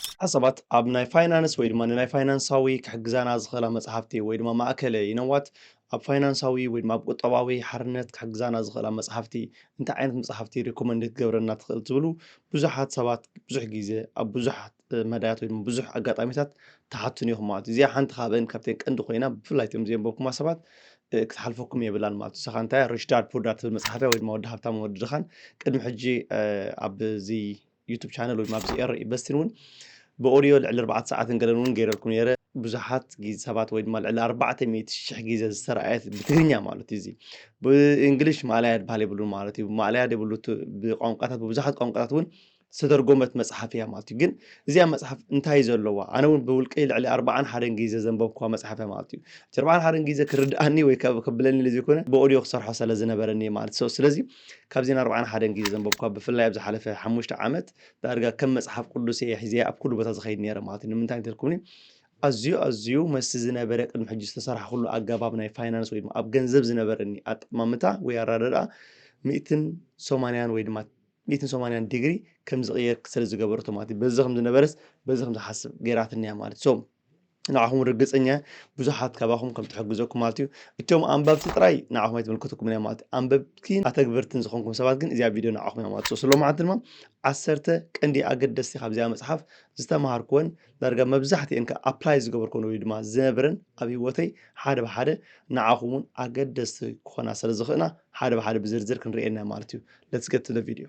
ብዙሓት ሰባት ኣብ ናይ ፋይናንስ ወይ ድማ ንናይ ፋይናንሳዊ ክሕግዛና ዝኽእላ መጽሓፍቲ ወይ ድማ ማእከለ ይነዋት ኣብ ፋይናንሳዊ ወይ ድማ ኣብ ቁጠባዊ ሓርነት ክሕግዛና ዝኽእላ መጽሓፍቲ እንታይ ዓይነት መጽሓፍቲ ሪኮመንድ ክትገብረና ትኽእል ትብሉ ብዙሓት ሰባት ብዙሕ ግዜ ኣብ ብዙሕ መዳያት ወይ ድማ ብዙሕ ኣጋጣሚታት ትሓቱን ኢኹም ማለት እዩ እዚኣ ሓንቲ ካብአን ካብተን ቀንዲ ኮይና ብፍላይ እቶም ዘንበብኩማ ሰባት ክትሓልፈኩም የብላን ማለት እዩ ሰኻ እንታይ ሪች ዳድ ፑር ዳድ ትብል መጽሓፍያ ወይ ድማ ወዲ ሃብታም ወዲ ድኻን ቅድሚ ሕጂ ኣብዚ ዩቱብ ቻነል ወይ ኣብዚ ኤረ ኢንቨስትን እውን ብኦድዮ ልዕሊ ኣርባዕተ ሰዓትን ገለን እውን ገይረልኩም ነይረ ብዙሓት ሰባት ወይ ድማ ልዕሊ ኣርባዕተ ሚእቲ ሽሕ ግዜ ዝተረኣየት ብትግርኛ ማለት እዩ እዚ ብእንግሊሽ ማእለያ ድበሃል የብሉ ማለት እዩ ማእለያ ደብሉ ብቋንቋታት ብብዙሓት ቋንቋታት እውን ዝተተርጎመት መፅሓፍ እያ ማለት እዩ ግን እዚኣ መፅሓፍ እንታይ ዘለዋ ኣነ እውን ብውልቀይ ልዕሊ ኣርባዓን ሓደን ግዜ ዘንበብኩዋ መፅሓፍ እያ ማለት እዩ እቲ ኣርባዓን ሓደን ግዜ ክርድኣኒ ወይ ከብለኒ ዘይኮነ ብኦድዮ ክሰርሖ ስለዝነበረኒ ማለት ስለዚ ካብ ዜና ኣርብዓን ሓደን ግዜ ዘንበብኳ ብፍላይ ኣብ ዝሓለፈ ሓሙሽተ ዓመት ዳርጋ ከም መጽሓፍ ቅዱስ እየ ሒዘ ኣብ ኩሉ ቦታ ዝኸይድ ነይረ ማለት እዩ ንምንታይ እንተልኩምኒ ኣዝዩ ኣዝዩ መስቲ ዝነበረ ቅድሚ ሕጂ ዝተሰርሓኩሉ ኣገባብ ናይ ፋይናንስ ወይ ድማ ኣብ ገንዘብ ዝነበረኒ ኣጠማምታ ወይ ኣረዳድኣ ሚእትን ሰማንያን ወይ ድማ ሚእትን ሰማንያን ዲግሪ ከም ዝቕየር ስለ ዝገበረቶ ማለት እዩ በዚ ከም ዝነበረስ በዚ ከም ዝሓስብ ገይራትኒ እያ ማለት ሶ ንዓኹም ርግጸኛ እየ ብዙሓት ካባኹም ከም ትሕግዘኩም ማለት እዩ እቶም ኣንበብቲ ጥራይ ንዓኹም ኣይትምልከተኩም እያ ማለት ኣንበብቲን ኣተግበርትን ዝኾንኩም ሰባት ግን እዚኣ ቪድዮ ንዓኹም እያ ማለት እዩ ስለ መዓልቲ ድማ ዓሰርተ ቀንዲ ኣገደስቲ ካብዚኣ መጽሓፍ ዝተምሃርኩወን ዳርጋ መብዛሕትኤን ከ ኣፕላይ ዝገበርኩወን ወይ ድማ ዝነብረን ኣብ ህይወተይ ሓደ ብሓደ ንዓኹም እውን ኣገደስቲ ክኾና ስለ ዝኽእና ሓደ ብሓደ ብዝርዝር ክንርእየና ማለት እዩ ለትስ ገት ቱ ቪድዮ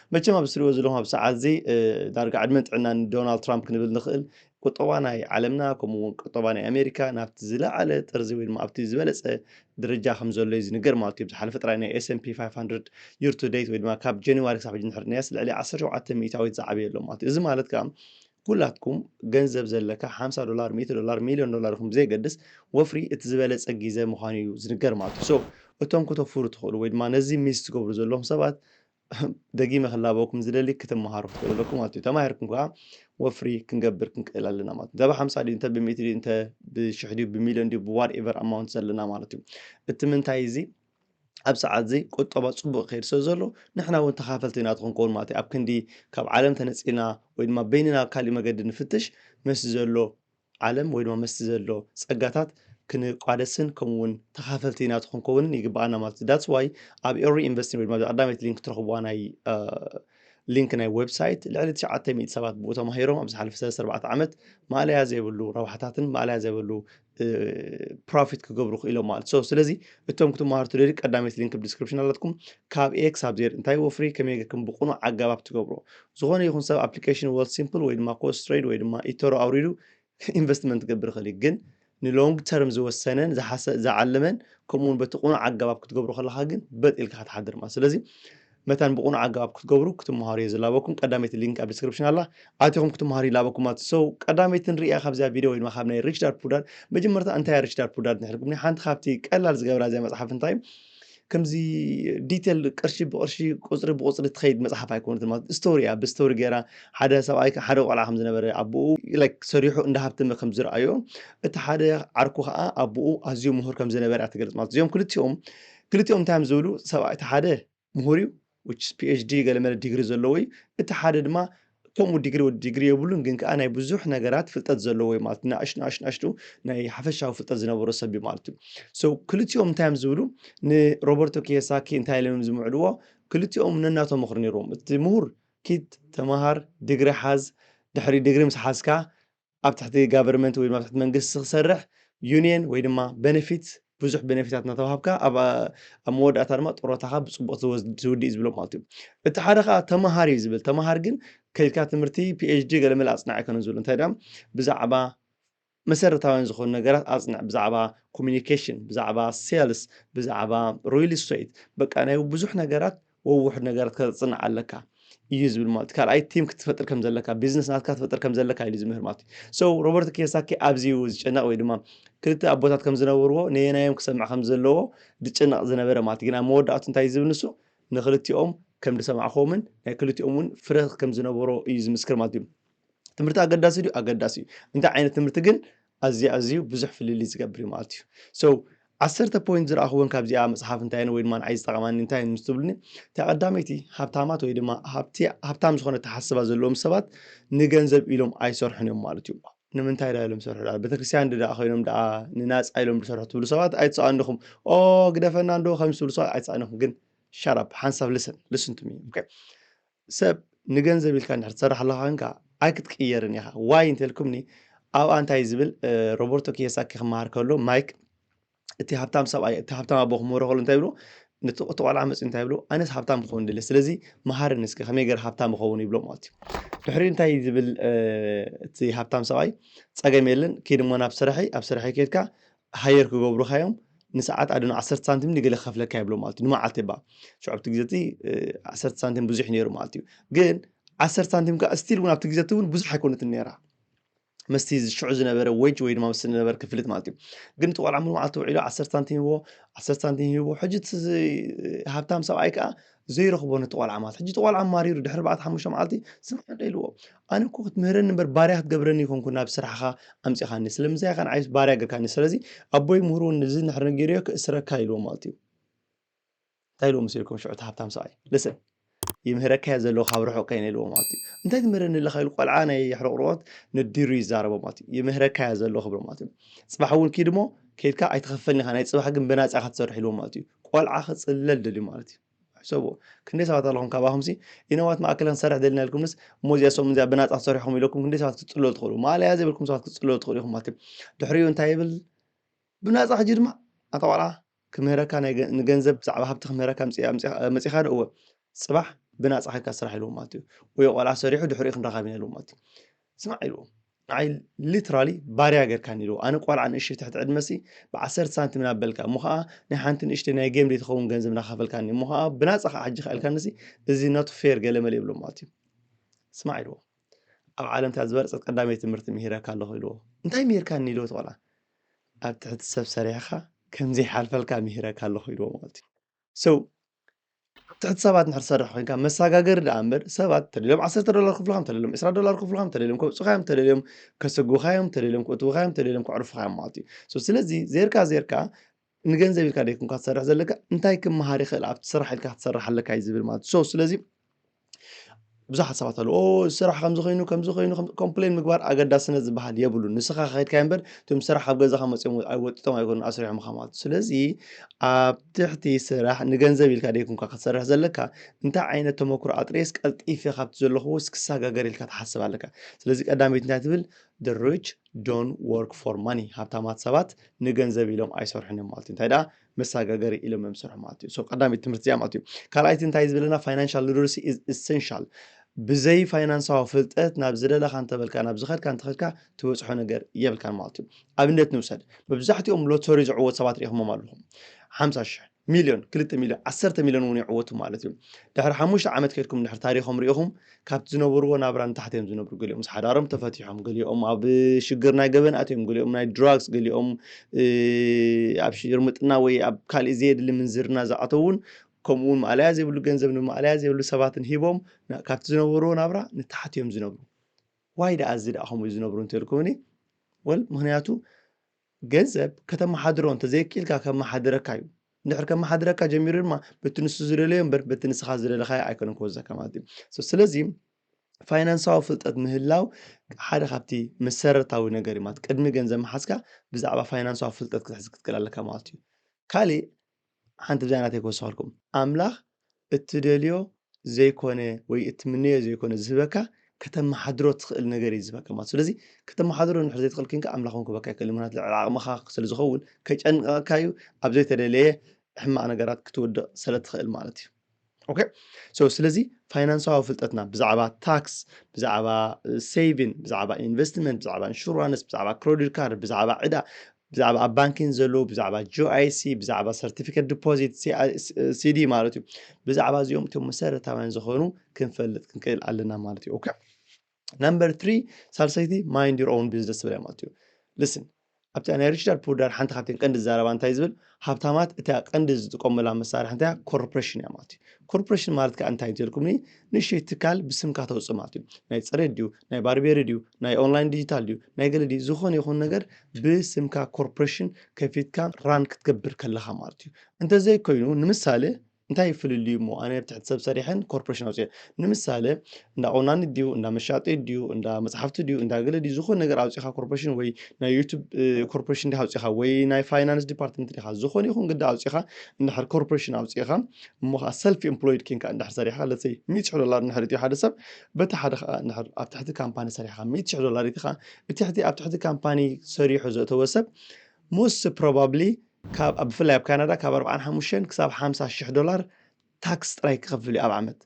መቸም ኣብዚ ትሪእዎ ዘለኹም ኣብ ሰዓት እዚ ዳርጋ ዕድመን ጥዕናን ንዶናልድ ትራምፕ ክንብል ንኽእል ቁጠባ ናይ ዓለምና ከምኡ እውን ቁጠባ ናይ ኣሜሪካ ናብቲ ዝለዓለ ጥርዚ ወይ ድማ ኣብቲ ዝበለፀ ደረጃ ከም ዘሎ እዩ ዝንገር ማለት እዩ ዝሓለፈ ጥራይ ናይ ኤስምፒ 500 ዩር ቱ ዴት ወይ ድማ ካብ ጀንዋሪ ክሳብ ሕጂ ንሕርናያስ ልዕሊ 17 ሚእታዊት ዝዓበየ ኣሎ ማለት እዩ እዚ ማለት ከዓ ኩላትኩም ገንዘብ ዘለካ 50 ዶላር 100 ዶላር ሚሊዮን ዶላር ይኹም ብዘይገድስ ወፍሪ እቲ ዝበለፀ ግዘ ምዃኑ እዩ ዝንገር ማለት እዩ ሶ እቶም ክተፍሩ ትኽእሉ ወይ ድማ ነዚ ሚስ ትገብሩ ዘለኹም ሰባት ደጊመ ክላበወኩም ዝደሊ ክትመሃሩ ክትክእሉ ኣለኩም ማለት እዩ ተማሂርኩም ከዓ ወፍሪ ክንገብር ክንክእል ኣለና ማለት እንተ ብሓምሳ ድዩ እንተ ብሚእቲ ድዩ እንተ ብሽሕ ድዩ ብሚልዮን ድዩ ብዋት ኤቨር ኣማውንት ዘለና ማለት እዩ እቲ ምንታይ እዚ ኣብ ሰዓት እዚ ቁጠባ ፅቡቅ ክኸይድ ስለ ዘሎ ንሕና እውን ተኻፈልቲ ኢና ክንከውን ማለት እዩ ኣብ ክንዲ ካብ ዓለም ተነፂልና ወይ ድማ በይንና ካልእ መገዲ ንፍትሽ ምስ ዘሎ ዓለም ወይ ድማ ምስቲ ዘሎ ጸጋታት ክንቋደስን ከምኡ እውን ተኻፈልቲ ናቱ ክንከውንን ይግባኣና ማለት እዩ ዳትስ ዋይ ኣብ ኤሪ ኢንቨስቲንግ ወይ ድማ ቀዳመይቲ ሊንክ ትረኽብዋ ናይ ሊንክ ናይ ዌብሳይት ልዕሊ 900 ሰባት ብኡ ተማሂሮም ኣብ ዝሓለፈ 34 ዓመት ማእለያ ዘይብሉ ረብሓታትን ማእለያ ዘይብሉ ፕሮፊት ክገብሩ ክኢሎም ማለት ሶ ስለዚ እቶም ክትመሃሩ ትደሊ ቀዳመይቲ ሊንክ ዲስክሪፕሽን ኣላትኩም ካብ ኤ ክሳብ ዜድ እንታይ ወፍሪ ከመይ ጌርኩም ብቑኑዕ ኣገባብ ትገብሮ ዝኾነ ይኹን ሰብ ኣፕሊኬሽን ወል ሲምፕል ወይ ድማ ኮስ ትሬድ ወይ ድማ ኢቶሮ ኣውሪዱ ኢንቨስትመንት ክገብር ይኽእል እዩ ግን ንሎንግ ተርም ዝወሰነን ዝዓለመን ከምኡ እውን በቲ ቁኑዕ ኣገባብ ክትገብሩ ከለካ ግን በጥ ኢልካ ክትሓድር ማለት ስለዚ መታን ብቁኑዕ ኣገባብ ክትገብሩ ክትምሃሩ እየ ዝላበኩም ቀዳመይቲ ሊንክ ኣብ ዲስክሪፕሽን ኣላ ኣቲኹም ክትምሃሩ ይላበኩም ማለት ሰው ቀዳመይቲ ንሪእያ ካብዚያ ቪድዮ ወይ ድማ ካብ ናይ ሪች ዳድ ፑር ዳድ መጀመርታ እንታይ ሪች ዳድ ፑር ዳድ ንሕልኩም ሓንቲ ካብቲ ቀላል ዝገብራ እዚያ መፅሓፍ እንታይ እዩ ከምዚ ዲቴል ቅርሺ ብቅርሺ ቁፅሪ ብቁፅሪ ትኸይድ መፅሓፍ ኣይኮነት ማለት ስቶሪ እያ ብስቶሪ ገይራ ሓደ ሰብኣይ ሓደ ቆልዓ ከም ዝነበረ ኣቦኡ ላይክ ሰሪሑ እንዳ ሃብተመ ከም ዝረኣዮ እቲ ሓደ ዓርኩ ከዓ ኣቦኡ ኣዝዩ ምሁር ከም ዝነበረ እያ ትገልፅ ማለት እዚኦም ክልቲኦም ክልቲኦም እንታይ እዮም ዝብሉ ሰብኣይ እቲ ሓደ ምሁር እዩ which is PHD ገለመለ ዲግሪ ዘለዎ እዩ። እቲ ሓደ ድማ ከምኡ ዲግሪ ወዲ ዲግሪ የብሉን ግን ከዓ ናይ ብዙሕ ነገራት ፍልጠት ዘለዎ እዩ ማለት ናእሽ ናእሽ ናእሽቱ ናይ ሓፈሻዊ ፍልጠት ዝነበሮ ሰብ እዩ ማለት እዩ ሶ ክልቲኦም እንታይ እዮም ዝብሉ ንሮበርቶ ኪየሳኪ እንታይ ኢሎም እዮም ዝምዕድዎ ክልቲኦም ነናቶም ምኽሪ ነይርዎም እቲ ምሁር ኪድ ተምሃር ድግሪ ሓዝ ድሕሪ ድግሪ ምስ ሓዝካ ኣብ ትሕቲ ጋቨርመንት ወይ ኣብ ትሕቲ መንግስቲ ክሰርሕ ዩኒየን ወይ ድማ በነፊት ብዙሕ በነፊታት እናተዋሃብካ ኣብ ኣብ መወዳእታ ድማ ጥሮታኻ ብፅቡቕ ዝውድእ ዝብሎ ማለት እዩ እቲ ሓደ ከዓ ተምሃር እዩ ዝብል ተምሃር ግን ከይድካ ትምህርቲ ፒኤችዲ ገለመለ ኣፅናዕ ኣይኮነን ዝብሉ እንታይ ድኣ ብዛዕባ መሰረታውያን ዝኾኑ ነገራት ኣፅንዕ ብዛዕባ ኮሚኒኬሽን ብዛዕባ ሴልስ ብዛዕባ ሪል ስቴት በቃ ናይ ብዙሕ ነገራት ወውሕ ነገር ክትጽንዕ ኣለካ እዩ ዝብል ማለት እዩ ካልኣይ ቲም ክትፈጥር ከም ዘለካ ቢዝነስ ናትካ ትፈጥር ከም ዘለካ ኢሉ ዝምህር ማለት እዩ ሰው ሮበርት ኪዮሳኪ ኣብዚዩ ዝጨነቕ ወይ ድማ ክልተ ኣቦታት ከም ዝነበርዎ ነየናዮም ክሰምዕ ከም ዘለዎ ዝጨነቕ ዝነበረ ማለት እዩ ግን ኣብ መወዳእቱ እንታይ ዝብል ንሱ ንክልቲኦም ከም ዝሰማዕክዎምን ናይ ክልቲኦም እውን ፍረ ከም ዝነበሮ እዩ ዝምስክር ማለት እዩ ትምህርቲ ኣገዳሲ ድዩ ኣገዳሲ እዩ እንታይ ዓይነት ትምህርቲ ግን ኣዝዩ ኣዝዩ ብዙሕ ፍልልይ ዝገብር እዩ ማለት እዩ ሶ ዓሰርተ ፖይንት ዝረኣኽዎን ካብዚኣ መፅሓፍ እንታይ ወይ ድማ ንዓይ ዝጠቐማኒ እንታይ ምስ ትብሉኒ እታ ቀዳመይቲ ሃብታማት ወይ ድማ ሃብታም ዝኾነ ተሓስባ ዘለዎም ሰባት ንገንዘብ ኢሎም ኣይሰርሑን እዮም ማለት እዩ ንምንታይ ዳ ኢሎም ዝሰርሑ ቤተክርስትያን ድዳ ኮይኖም ደኣ ንናፃ ኢሎም ዝሰርሑ ትብሉ ሰባት ኣይትሰኣንኹም ኦ ግደፈና እንዶ ከም ዝብሉ ሰባት ኣይትሰኣንኹም ግን ሻራፕ ሓንሳብ ልስን ልስን ቱ ሚ ሰብ ንገንዘብ ኢልካ እንድሕር ትሰርሕ ኣለኻ ኮንካ ኣይክትቅየርን ኢኻ ዋይ እንተልኩምኒ ኣብኣ እንታይ ዝብል ሮበርቶ ኪዮሳኪ ክመሃር ከሎ ማይክ እቲ ሃብታም ሰብኣይ እቲ ሃብታም ኣቦ ክምህሮ ከሎ እንታይ ብሎ ነቲ ቆልዓ መፅኡ እንታይ ብሎ ኣነስ ሃብታም ክኸውን ድለ ስለዚ መሃርን እስከ ከመይ ገር ሃብታም ይኸውን ይብሎ ማለት እዩ ድሕሪ እንታይ ዝብል እቲ ሃብታም ሰብኣይ ፀገም የለን ኪድሞ ናብ ስራሐይ ኣብ ስራሐይ ከድካ ሃየር ክገብሩኻ እዮም ንሰዓት ኣደ ዓሰርተ ሳንቲም ንገለ ከፍለካ የብሎ ማለት እዩ ንመዓልቲ ባ ሸዑብቲ ግዜ እቲ ዓሰርተ ሳንቲም ብዙሕ ነይሩ ማለት እዩ ግን ዓሰርተ ሳንቲም ከዓ ስቲል እውን ኣብቲ ግዜ እቲ እውን ብዙሕ ኣይኮነትን ነይራ መስቲ ሽዑ ዝነበረ ወጅ ወይ ድማ ምስ ዝነበረ ክፍልት ማለት እዩ ግን እቲ ቆልዓ ሙሉ መዓልቲ ውዒሉ ዓሰርተ ሳንቲም ሂቦ ዓሰርተ ሳንቲም ሂቦ ሕጂ እቲ ሃብታም ሰብኣይ ከዓ ዘይረኽቦ ነቲ ቆልዓ ማለት ሕጂ እቲ ቆልዓ ማሪሩ ድሕሪ ኣርባዕተ ሓሙሽተ መዓልቲ ስምዓኒ ዶ ኢልዎ ኣነ እኮ ክትምህረኒ እምበር ባርያ ክትገብረኒ ኣይኮንኩን ናብ ስራሕኻ ኣምጺኻኒ ስለምንታይ ኢኻ ንዓይስ ባርያ ገርካኒ ስለዚ ኣቦይ ምሁሩ እዚ እንድሕር ነጊረዮ ክእስረካ ኢልዎ ማለት እዩ እንታይ ኢልዎ መሲልኩም ሽዑ እቲ ሃብታም ሰብኣይ ልስን ይምህረካ እየ ዘለኹ ካብ ርሑቕ ከይነ ኢልዎ ማለት እዩ እንታይ ትምህረኒ ኣለኻ ኢሉ ቆልዓ ናይ ሕርቕርቦት ነዲሩ ይዛረቦ ማለት እዩ ይምህረካ እየ ዘለኹ ክብሎ ማለት እዩ ጽባሕ እውን ኪድ እሞ ከይድካ ኣይትኸፈልኒ ኢኻ ናይ ጽባሕ ግን ብናጻ ኢኻ ትሰርሕ ኢልዎ ማለት እዩ ቆልዓ ክጽለል ደልዩ ማለት እዩ ሕሰብዎ ክንደይ ሰባት ኣለኹም ካባኹምሲ ኢነዋት ማእከል ክንሰርሕ ደልና ኢልኩምስ እሞ እዚኣ ሰሙን እዚኣ ብናፃ ክሰርሕኹም ኢለኩም ክንደይ ሰባት ክትፅለሉ ትኽእሉ ማለያ ዘይብልኩም ሰባት ክትፅለሉ ትኽእሉ ኢኹም ማለት እዩ ድሕሪኡ እንታይ ይብል ብናፃ ሕጂ ድማ ኣታ ቆልዓ ክምህረካ ንገንዘብ ብዛዕባ ሃብቲ ክምህረካ መፂኻ ዶ እወ ፅባሕ ብናፃ ከካ ስራሕ ኢልዎ ማለት እዩ ወይ ቆልዓ ሰሪሑ ድሕሪኡ ክንረኻብ ኢና ኢልዎ ማለት እዩ ስማዕ ኢልዎ ንዓይ ሊትራሊ ባርያ ጌርካኒ ኢልዎ ኣነ ቆልዓ ንእሽተይ ትሕቲ ዕድመሲ ብዓሰርተ ሳንቲም ናበልካ እሞ ከዓ ናይ ሓንቲ ንእሽተይ ናይ ጌም ዘይትኸውን ገንዘብ ናኸፈልካኒ እሞ ከዓ ብናፃ ከዓ ሕጂ ከእልካኒሲ እዚ ኖት ፌር ገለመለ ይብሎ ማለት እዩ ስማዕ ኢልዎ ኣብ ዓለም እታ ዝበለፀት ቀዳመይ ትምህርቲ ምሂረካ ኣለኹ ኢልዎ እንታይ ምሂርካኒ ኢልዎ እቲ ቆልዓ ኣብ ትሕቲ ሰብ ሰሪሕኻ ከምዘይሓልፈልካ ምሂረካ ኣለኹ ኢልዎ ማለት እዩ so ኣብ ትሕቲ ሰባት እንድሕር ትሰርሕ ኮይንካ መሰጋገሪ ደኣ እምበር ሰባት እንተደልዮም ዓሰርተ ዶላር ክፍልኻ እንተደልዮም ዕስራ ዶላር ክፍልኻ እንተደልዮም ከውጽኡኻ እዮም እንተደልዮም ከስጉኻ እዮም እንተደልዮም ከእትዉኻ እዮም እንተደልዮም ከዕርፉኻ እዮም ማለት እዩ so ስለዚ ዜርካ ዜርካ ንገንዘብ ኢልካ ደይኮንካ ትሰርሕ ዘለካ እንታይ ክመሃር ይኽእል ኣብቲ ስራሕ ኢልካ ክትሰርሕ ኣለካ እዩ ዝብል ማለት እዩ so ስለዚ ብዙሓት ሰባት ኣለዉ ኦ እዚ ስራሕ ከምዚ ኮይኑ ከምዚ ኮይኑ ከም- ኮምፕሌን ምግባር ኣገዳስነት ዝበሃል የብሉን ንስኻ ከኸድካዮ እምበር እቶም ስራሕ ኣብ ገዛኻ መፅኦም ኣይ- ወጢጦም ኣይኮኑን ኣስሪሖምኻ ማለት እዩ ስለዚ ኣብ ትሕቲ ስራሕ ንገንዘብ ኢልካ ደይኩንካ ክትሰርሕ ዘለካ እንታይ ዓይነት ተመክሮ ኣጥሬስ ቀልጢፈ ካብቲ ዘለኹ ውስ ክሰጋገር ኢልካ ትሓስብ ኣለካ ስለዚ ቀዳመይቲ እንታይ ትብል the rich don't work for money ሃብታማት ሰባት ንገንዘብ ኢሎም ኣይሰርሑን እዮም ማለት እዩ እንታይ ደኣ መሳጋገሪ ኢሎም እዮም ዝሰርሑ ማለት እዩ። ቀዳመይቲ ትምህርቲ እዚኣ ማለት እዩ። ካልኣይቲ እንታይ ዝበለና ፋይናንሻል ሊትረሲ ኢዝ ኢሰንሻል ብዘይ ፋይናንሳዊ ፍልጠት ናብ ዝደለካ እንተበልካ ናብ ዝኸድካ እንተኸድካ ትበፅሖ ነገር የብልካን ማለት እዩ። ኣብነት ንውሰድ መብዛሕትኦም ሎተሪ ዝዕወት ሰባት ሪኢኹሞም ኣለኹም ሓምሳ ሽሕ ሚልዮን ክልተ ሚልዮን ዓሰርተ ሚልዮን እውን ይዕወቱ ማለት እዩ። ድሕሪ ሓሙሽተ ዓመት ከድኩም ድሕሪ ታሪኾም ሪኢኹም ካብቲ ዝነበርዎ ናብራ ንታሕቲ እዮም ዝነብሩ ገሊኦም ምስ ሓዳሮም ተፈቲሖም ገሊኦም ኣብ ሽግር ናይ ገበን ኣትዮም ገሊኦም ናይ ድራግስ ገሊኦም ኣብ ሽርምጥና ወይ ኣብ ካልእ ዘየድሊ ምንዝርና ዝኣተውን ከምኡ እውን ማእለያ ዘይብሉ ገንዘብ ንማእለያ ዘይብሉ ሰባትን ሂቦም ካብቲ ዝነበርዎ ናብራ ንታሕቲ እዮም ዝነብሩ ዋይ ደኣ እዚ ደኣ ከምኡ ዝነብሩ እንተልኩምኒ ወል ምክንያቱ ገንዘብ ከተመሓድሮ እንተዘይኪኢልካ ከመሓድረካ እዩ እንድሕር ከመሓድረካ ጀሚሩ ድማ በቲ ንሱ ዝደለዮ እምበር በቲ ንስኻ ዝደለኻዮ ኣይኮነን ክወዘካ ማለት እዩ ስለዚ ፋይናንሳዊ ፍልጠት ምህላው ሓደ ካብቲ መሰረታዊ ነገር እዩ ማለት ቅድሚ ገንዘብ ምሓዝካ ብዛዕባ ፋይናንሳዊ ፍልጠት ክትሕዝ ክትክእል ኣለካ ማለት እዩ ካሊእ ሓንቲ ብዛይ ናተይ ክወስኸልኩም ኣምላኽ እትደልዮ ዘይኮነ ወይ እትምነዮ ዘይኮነ ዝህበካ ከተመሓድሮ ትኽእል ነገር እዩ ዝህበካ ማለት ስለዚ ከተመሓድሮ ንድሕር ዘይትኽእል ክንካ ኣምላኽ እውን ክህበካ ይክእል ምክንያት ልዕሊ ዓቕምኻ ስለ ዝኸውን ከጨንቀካ እዩ ኣብ ዘይተደለየ ሕማቕ ነገራት ክትወድቕ ስለ ትኽእል ማለት እዩ ኦከ ሶ ስለዚ ፋይናንሳዊ ፍልጠትና ብዛዕባ ታክስ ብዛዕባ ሴቪን ብዛዕባ ኢንቨስትመንት ብዛዕባ ኢንሹራንስ ብዛዕባ ክሬዲት ካርድ ብዛዕባ ዕዳ ብዛዕባ ኣብ ባንኪን ዘለዉ ብዛዕባ ጂኣይሲ ብዛዕባ ሰርቲፊኬት ዲፖዚት ሲዲ ማለት እዩ ብዛዕባ እዚኦም እቶም መሰረታውያን ዝኾኑ ክንፈልጥ ክንክእል ኣለና ማለት እዩ ኦከ ነምበር ትሪ ሳልሰይቲ ማይንድ ዩር ኦውን ቢዝነስ ትብል ማለት እዩ ልስን ኣብቲ ናይ ሪችዳር ፑዳር ሓንቲ ካብተን ቀንዲ ዛረባ እንታይ ዝብል ሃብታማት እታ ቀንዲ ዝጥቀሙላ መሳርሒ እንታይ ኮርፖሬሽን እያ ማለት እዩ ኮርፖሬሽን ማለት ከዓ እንታይ እንትልኩምኒ ንእሽተይ ትካል ብስምካ ተውፅእ ማለት እዩ ናይ ፅሬት ድዩ ናይ ባርቤሪ ድዩ ናይ ኦንላይን ዲጂታል ድዩ ናይ ገለ ድዩ ዝኾነ ይኹን ነገር ብስምካ ኮርፖሬሽን ከፊትካ ራን ክትገብር ከለኻ ማለት እዩ እንተዘይኮይኑ ንምሳሌ እንታይ እዩ ፍልልዩ እሞ ኣነ ብትሕቲ ሰብ ሰሪሐን ኮርፖሬሽን ኣውፅኦ ንምሳሌ እንዳ ቆናኒ ድዩ እንዳ መሻጢ ድዩ እንዳ መፅሓፍቲ ድዩ እንዳ ገለ ድዩ ዝኾነ ነገር ኣውፂኻ ኮርፖሬሽን ወይ ናይ ዩቱብ ኮርፖሬሽን ዲኻ ኣውፂኻ ወይ ናይ ፋይናንስ ዲፓርትመንት ዲኻ ዝኾነ ይኹን ግዳ ኣውፂኻ እንድሕር ኮርፖሬሽን ኣውፂኻ እሞ ከዓ ሰልፊ ኤምፕሎይድ ኬንካ እንድሕር ሰሪሕካ ለሰይ ሚእቲ ሽሕ ዶላር እንድሕር እትዩ ሓደ ሰብ በቲ ሓደ ከዓ እንድሕር ኣብ ትሕቲ ካምፓኒ ሰሪሕካ ሚእቲ ሽሕ ዶላር እቲ ከዓ እቲ ሕቲ ኣብ ትሕቲ ካምፓኒ ሰሪሑ ዘእተወ ሰብ ሞስት ፕሮባብሊ ካብ ብፍላይ ኣብ ካናዳ ካብ ኣርብዓን ሓሙሽተን ክሳብ ሓምሳ ሽሕ ዶላር ታክስ ጥራይ ክኸፍል እዩ ኣብ ዓመት።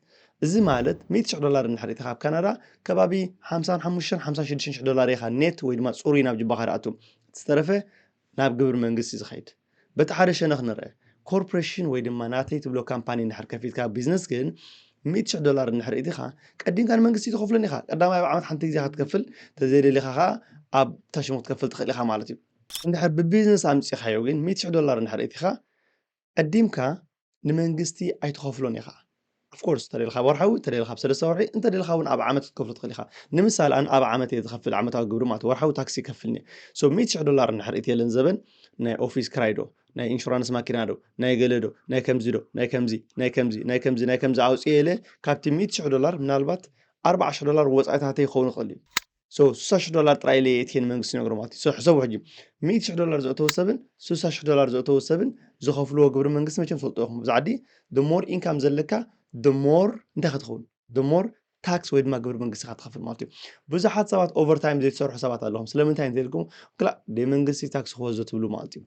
እዚ ማለት ሚእቲ ሽሕ ዶላር እንድሕር ርኢኻ ኣብ ካናዳ ከባቢ ሓምሳን ሓሙሽተን ሓምሳን ሽዱሽተን ሽሕ ዶላር ኢኻ ኔት ወይ ድማ ጽሩይ ናብ ጅባኻ ድኣቱ። እቲ ዝተረፈ ናብ ግብሪ መንግስቲ እዩ ዝኸይድ። በቲ ሓደ ሸነኽ ንርኣ። ኮርፕረሽን ወይ ድማ ናተይ ትብሎ ካምፓኒ እንድሕር ከፊትካ ቢዝነስ ግን ሚእቲ ሽሕ ዶላር እንድሕር እቲኻ ቀዲምካ ንመንግስቲ ትኸፍሎን ኢኻ። ቀዳማይ ኣብ ዓመት ሓንቲ ግዜ ኢኻ ትከፍል፣ ተዘይደሊኻ ከኣ ኣብ ታሽሙ ክትከፍል ትኽእል ኢኻ ማለት እዩ። እንድሕር ብቢዝነስ ኣምጺኻዮ ግን ሚእቲ ሽሕ ዶላር እንድሕር እቲኻ ቀዲምካ ንመንግስቲ ኣይትኸፍሎን ኢኻ of course እንተደሊኻ ኣብ ወርሓዊ እንተደሊኻ ኣብ ሰለስተ ወርሒ እንተደሊኻ እውን ኣብ ዓመት ክትከፍሎ ትኽእል ኢኻ ንምሳሌ ኣነ ኣብ ዓመት እየ ዝኸፍል ዓመታዊ ግብሪ ማለት ወርሓዊ ታክሲ ይከፍልኒ ሶ ሚእቲ ሽሕ ዶላር እንድሕር እትየለን ዘበን ናይ ኦፊስ ክራይ ዶ ናይ ኢንሹራንስ ማኪና ዶ ናይ ገለ ዶ ናይ ከምዚ ዶ ናይ ከምዚ ናይ ከምዚ ናይ ከምዚ ናይ ከምዚ ኣውፅኤ ኢለ ካብቲ ሚእቲ ሽሕ ዶላር ምናልባት ኣርብዓ ሽሕ ዶላር ወፃኢታተይ ክኸውን ይኽእል እዩ ሶ ስሳ ሽሕ ዶላር ጥራይ ኢለ የእትየ ንመንግስቲ ይነግሮ ማለት እዩ። ሶ ሕሰቡ ሕጂ ሚእቲ ሽሕ ዶላር ዘእተወ ሰብን ስሳ ሽሕ ዶላር ዘእተወ ሰብን ዝኸፍልዎ ግብሪ መንግስቲ መቸም ትፈልጡ ኢኹም ኣብዚ ዓዲ the more income ዘለካ the more እንታይ ኢኻ ትኸውን the more ታክስ ወይ ድማ ግብሪ መንግስቲ ኢኻ ትኸፍል ማለት እዩ። ብዙሓት ሰባት ኦቨርታይም ዘይትሰርሑ ሰባት ኣለኹም ስለምንታይ እንተኢልኩም ክላእ ደይ መንግስቲ ታክሲ ክወስዶ ትብሉ ማለት እዩ።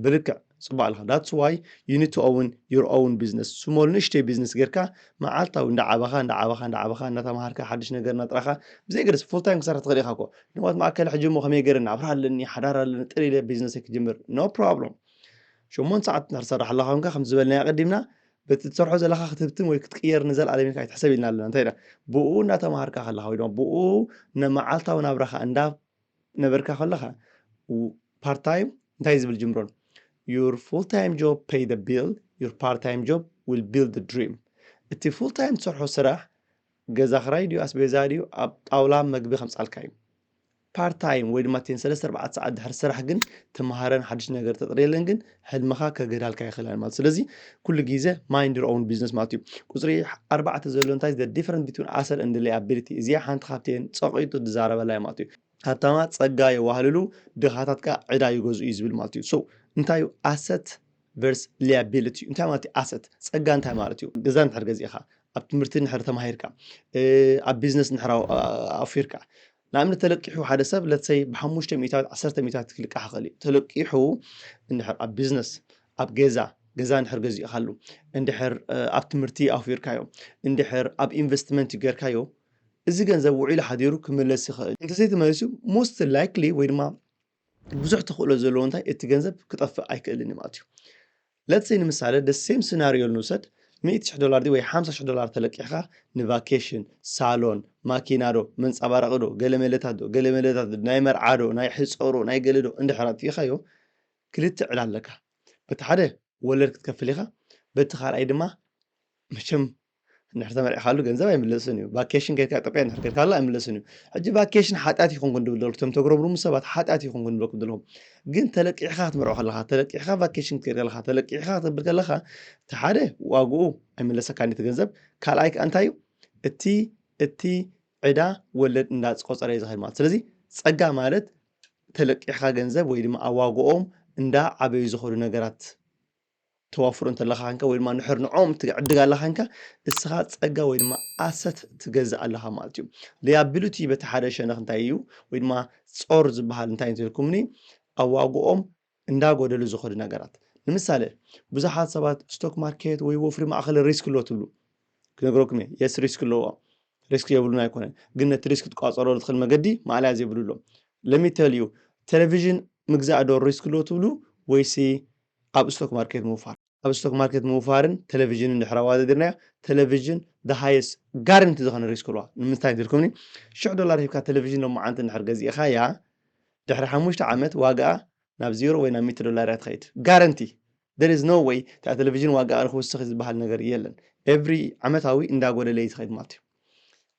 ብልክዕ ጽቡቅ ኣለኻ ዳትስ ዋይ ዩ ኒድ ቱ ኦውን ዩር ኦውን ቢዝነስ ስሞል ንእሽተይ ቢዝነስ ጌርካ መዓልታዊ እንዳዓበኻ እንዳዓበኻ እንዳዓበኻ እንዳተማሃርካ ሓድሽ ነገር እናጥራኻ ብዘይ ገደስ ፉል ታይም ክሰርሕ ትኽእል ኢኻ እኮ ንዋት መኣከለ ሕጂ እሞ ከመይ ገይረ ናብራ ኣለኒ ሓዳር ኣለኒ ጥር ኢለ ቢዝነሰይ ክጅምር ኖ ፕሮብሎም ሸሞንተ ሰዓት እንድሕር ትሰርሕ ኣለኻ ኮንካ ከምቲ ዝበልናዮ ኣቐዲምና በቲ እትሰርሖ ዘለኻ ክትህብትም ወይ ክትቅየር ንዘለኣለም ኢልካ ኣይትሕሰብ ኢልና ኣለና እንታይ ኢና ብኡ እናተምሃርካ ከለኻ ወይ ድማ ብኡ መዓልታዊ ናብራኻ እንዳ ነበርካ ከለኻ ፓርት ታይም እንታይ ዝብል ጅምሮ ዩር ፉል ታይም ጆብ ፔይ ደ ቢል ዩር ፓርት ታይም ጆብ ዊል ቢልድ ደ ድሪም እቲ ፉል ታይም ትሰርሖ ስራሕ ገዛ ክራይ ድዩ ኣስቤዛ ድዩ ኣብ ጣውላ መግቢ ከምፃልካ እዩ ፓርት ታይም ወይ ድማ እተን ሰለስተ ኣርባዕተ ሰዓት ድሕሪ ስራሕ ግን ትምሃረን ሓድሽ ነገር ተጥርየለን ግን ሕልምኻ ከገዳልካ ኣይኽእላን ማለት ስለዚ ኩሉ ግዜ ማይንድ ኦውን ቢዝነስ ማለት እዩ ቁፅሪ ኣርባዕተ ዘሎ እንታይ ዘ ዲፈረንት ቢትዊን ኣሰር እንድ ላያቢሊቲ እዚኣ ሓንቲ ካብተን ፀቂጡ ዝዛረበላ እዩ ማለት እዩ ሃብታማ ፀጋ የዋህልሉ ድኻታት ከዓ ዕዳ ይገዝኡ እዩ ዝብል ማለት እዩ ሶ እንታይ እዩ ኣሰት ቨርስ ሊያቢሊቲ እዩ እንታይ ማለት እዩ ኣሰት ፀጋ እንታይ ማለት እዩ ገዛ ንድሕር ገዚእኻ ኣብ ትምህርቲ ንድሕር ተማሂርካ ኣብ ቢዝነስ ንድሕር ኣውፊርካ ንኣብነት ተለቂሑ ሓደ ሰብ ለትሰይ ብሓሙሽተ ሚእታዊት ዓሰርተ ሚእታዊት ክልቃሕ ይኽእል እዩ ተለቂሑ እንድሕር ኣብ ቢዝነስ ኣብ ገዛ ገዛ እንድሕር ገዚእኻሉ እንድሕር ኣብ ትምህርቲ ኣውፊርካዮ እንድሕር ኣብ ኢንቨስትመንት ጌርካዮ እዚ ገንዘብ ውዒሉ ሓዲሩ ክምለስ ይኽእል እንተዘይተመሊሱ ሞስት ላይክሊ ወይ ድማ ብዙሕ ተኽእሎ ዘለዎ እንታይ እቲ ገንዘብ ክጠፍእ ኣይክእልን እዩ ማለት እዩ ለትሰ ንምሳሌ ደሴም ስናርዮ ንውሰድ ሚእቲ ሽሕ ዶላር ድዩ ወይ ሓምሳ ሽሕ ዶላር ተለቂሕኻ ንቫኬሽን ሳሎን ማኪና ዶ መንፀባረቒ ዶ ገለ መለታት ዶ ገለ መለታት ዶ ናይ መርዓ ዶ ናይ ሕፀሮ ናይ ገለ ዶ እንድሕር ኣጥፊእኻዮ ክልተ ዕላ ኣለካ በቲ ሓደ ወለድ ክትከፍል ኢኻ በቲ ካልኣይ ድማ መቸም እንድሕር ተመርዕካሉ ገንዘብ ኣይምለስን እዩ ቫኬሽን ከድካ ኢትዮጵያ እንድሕር ከድካሉ ኣይምለስን እዩ ሕጂ ቫኬሽን ሓጢኣት ይኹንኩን ድብል ዘለኩ እቶም ተጉረምርሙ ሰባት ሓጢኣት ይኹንኩን ድበልኩም ዘለኹም ግን ተለቂሕካ ክትመርዖ ከለካ ተለቂሕካ ቫኬሽን ክትከድ ከለካ ተለቂሕካ ክትብል ከለካ እቲ ሓደ ዋግኡ ኣይምለሰካ ነቲ ገንዘብ ካልኣይ ከዓ እንታይ እዩ እቲ እቲ ዕዳ ወለድ እንዳቆፀረ እዩ ዝኸድ ማለት ስለዚ ፀጋ ማለት ተለቂሕካ ገንዘብ ወይ ድማ ኣብ ዋግኦም እንዳ ዓበዩ ዝኸዱ ነገራት ተዋፍሮ እንተለኻ ከንካ ወይ ድማ ንሕር ንዖም ትዕድግ ኣላ ከንካ እስኻ ጸጋ ወይ ድማ ኣሰት ትገዝእ ኣለኻ ማለት እዩ ሊያቢሉቲ በቲ ሓደ ሸነኽ እንታይ እዩ ወይ ድማ ጾር ዝበሃል እንታይ እንተልኩምኒ ኣብ ዋግኦም እንዳጎደሉ ዝኸዱ ነገራት ንምሳሌ ብዙሓት ሰባት ስቶክ ማርኬት ወይ ወፍሪ ማእኸል ሪስክ ኣሎ ትብሉ ክነግረኩም እየ የስ ሪስክ ኣለዎ ሪስክ የብሉን ኣይኮነን ግን ነቲ ሪስክ ትቋፀሮ ዝኽእል መገዲ ማዕለያ ዘይብሉ ኣሎ ለሚተልዩ ቴሌቪዥን ምግዛእ ዶ ሪስክ ኣሎ ትብሉ ወይሲ ኣብ ስቶክ ማርኬት ምውፋር። ኣብ ስቶክ ማርኬት ምውፋርን ተለቪዥንን ድሕሪ ኣዋዳዲርናዮ፣ ተለቪዥን the highest guarantee ዝኾነ risk ኣለዋ። ንምንታይ እንተልኩምኒ፣ ሽሕ ዶላር ሂብካ ተለቪዥን ሎማዓንቲ እንድሕር ገዚእኻያ፣ ድሕሪ ሓሙሽተ ዓመት ዋጋኣ ናብ ዜሮ ወይ ናብ ሚእቲ ዶላር እያ ትኸይድ። Guarantee! There is no way እታ ተለቪዥን ዋጋኣ ንኽውስኽ እዩ ዝበሃል ነገር የለን። Every ዓመታዊ እንዳጎደለ እዩ ዝኸይድ ማለት እዩ።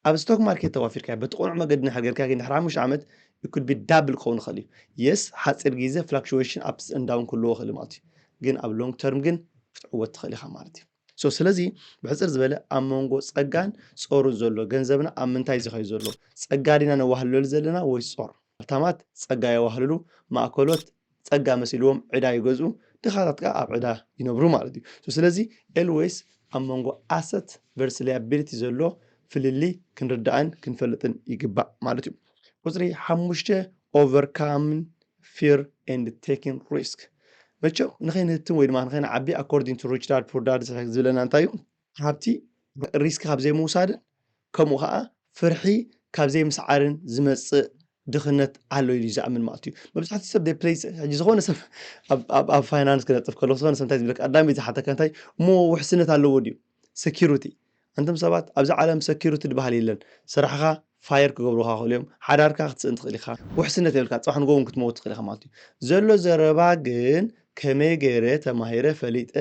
ኣብ ስቶክ ማርኬት ተዋፊርካ በቲ ቅኑዕ መገዲ እንድሕር ጌርካ ግን ድሕሪ ሓሙሽተ ዓመት it could be double ክኸውን ይኽእል እዩ yes ሓጺር ግዜ fluctuation ups and down ክህልዎ ይኽእል እዩ ማለት እዩ ግን ኣብ long term ግን ክትዕወት ትኽእል ኢኻ ማለት እዩ ሶ ስለዚ ብሕጽር ዝበለ ኣብ መንጎ ጸጋን ጾርን ዘሎ ገንዘብና ኣብ ምንታይ ዝኸዩ ዘሎ ጸጋ ዲና ነዋህልለሉ ዘለና ወይስ ጾር ሃብታማት ጸጋ የዋህልሉ፣ ማእከሎት ጸጋ መሲልዎም ዕዳ ይገዝኡ፣ ድኻታት ከኣ ኣብ ዕዳ ይነብሩ ማለት እዩ። So ስለዚ ኤልዌይስ ኣብ መንጎ Asset Versus Liability ዘሎ ፍልልይ ክንርዳእን ክንፈልጥን ይግባእ ማለት እዩ። ቁጽሪ ሓሙሽተ Overcoming Fear and Taking Risk መቸም ንኸይንህትም ወይ ድማ ንኸይንዓቢ According to Rich Dad Poor Dad ዝብለና እንታይ እዩ? ሃብቲ ሪስክ ካብ ዘይምውሳድን ከምኡ ኸኣ ፍርሒ ካብ ዘይምስዓርን ዝመጽእ ድኽነት ኣሎ ኢሉ ዝኣምን ማለት እዩ መብዛሕትኡ ሰብ ፕሌይ ሕጂ ዝኾነ ሰብ ኣብ ፋይናንስ ክነጥፍ ከሎ ዝኾነ ሰብ እንታይ ዝብለካ ቀዳሚ ዝሓተካ እንታይ እሞ ውሕስነት ኣለዎ ድዩ ሰኪሩቲ ኣንቶም ሰባት ኣብዚ ዓለም ሰኪሩቲ ድበሃል የለን ስራሕኻ ፋየር ክገብሩኻ ይኽእሉ እዮም ሓዳርካ ክትስእን ትኽእል ኢኻ ውሕስነት የብልካ ጽባሕ ንግሆ ውን ክትመውት ትኽእል ኢኻ ማለት እዩ ዘሎ ዘረባ ግን ከመይ ገይረ ተማሂረ ፈሊጠ